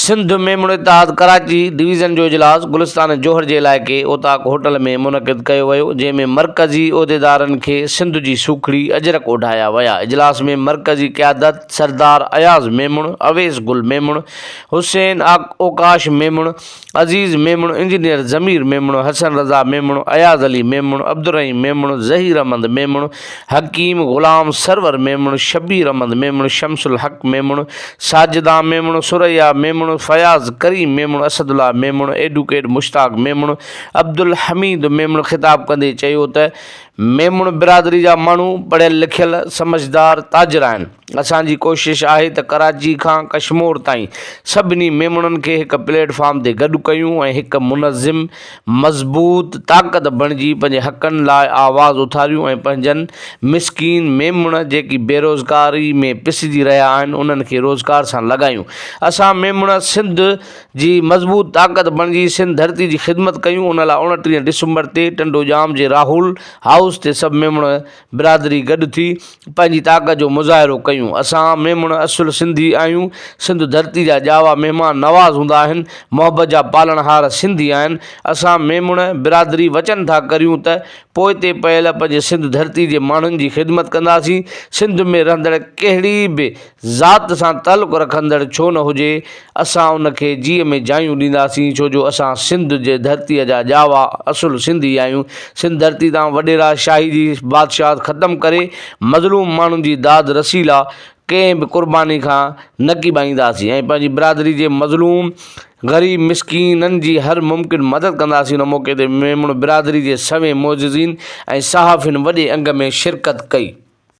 سنڌ ميمڻو اتحاد ڪراچي ڊويزن جو اجلاس گلستان جوهر جي علائقي اوطاق هوٽل ۾ منعقد ڪيو ويو جنهن ۾ مرڪزي عهديدارن کي سنڌ جي سوکڙي اجرڪ اوڍايا ويا اجلاس ۾ مرڪزي قيادت سردار اياز ميمڻ اويس گل ميمڻ حسين اوڪاش ميمڻ عزيز ميمڻ، انجنيئر ضمير ميمڻ، حسن رضا ميمڻ، اياز علي ميمڻ، عبدالرحيم ميمڻ، ظهير احمد ميمڻ، حڪيم غلام سرور ميمڻ، شبير احمد ميمڻ، شمس الحق ميمڻ، ساجده ميمڻ، ثريا ميمڻ، فياض ڪريم ميمڻ، اسد الله ميمڻ، ايڊوڪيٽ مشتاق ميمڻ، عبدالحميد ميمڻ خطاب ڪندي چيو ته ميمڻ برادري جا ماڻهو پڙهيل لکيل سمجهدار تاجر آهن، اسان جي ڪوشش آهي ته ڪراچي کان ڪشمور تائين سڀني ميمڻن کي هڪ پليٽ فارم تي گڏ ڪيون ۽ هڪ منظم، مضبوط طاقت بڻجي پنهنجي حقن لاء آواز اٿاريون ۽ پنهنجن مسڪين ميمڻ جيڪي بيروزگاري ۾ پسجي رهيا آهن انهن کي روزگار سان لڳايون. اسان ميمڻ سنڌ جي مضبوط طاقت بڻجي سنڌ ڌرتي جي خدمت ڪيون ان لاء اوڻٽيهه ڊسمبر تي ٽنڊوڄام جي راهول هائوس تي سڀ ميمڻ برادري گڏ ٿي پنهنجي طاقت جو مظاهرو ڪيون اسان ميمڻ اصل سنڌي آهيون سنڌ ڌرتي جا ڄاوا مهمان نواز هوندا آهن محبت جا پالڻهار سنڌي آهن اسان ميمڻ برادري وچن ٿا ڪريون ته پوئتي پيل پنهنجي سنڌ ڌرتي جي ماڻهن جي خدمت ڪنداسين سنڌ ۾ رهندڙ ڪهڙي به ذات سان تعلق رکندڙ ڇو نه هجي، اسان ان کي جيء ۾ جايون ڏينداسين، ڇو جو اسان سنڌ جي ڌرتيء جا ڄاوا اصل سنڌي آهيون. سنڌ ڌرتي تان وڏيرا شاهي جي بادشاهت ختم ڪري، مظلوم ماڻهن جي داد رسي لا ڪنهن به قرباني کان نه ڪيٻائينداسين ۽ پنهنجي برادري جي مظلوم، غريب، مسڪينن جي هر ممڪن مدد ڪنداسين. ان موقعي تي ميمڻ برادري جي سوين معززين ۽ صحافين وڏي انگ ۾ شرڪت ڪئي.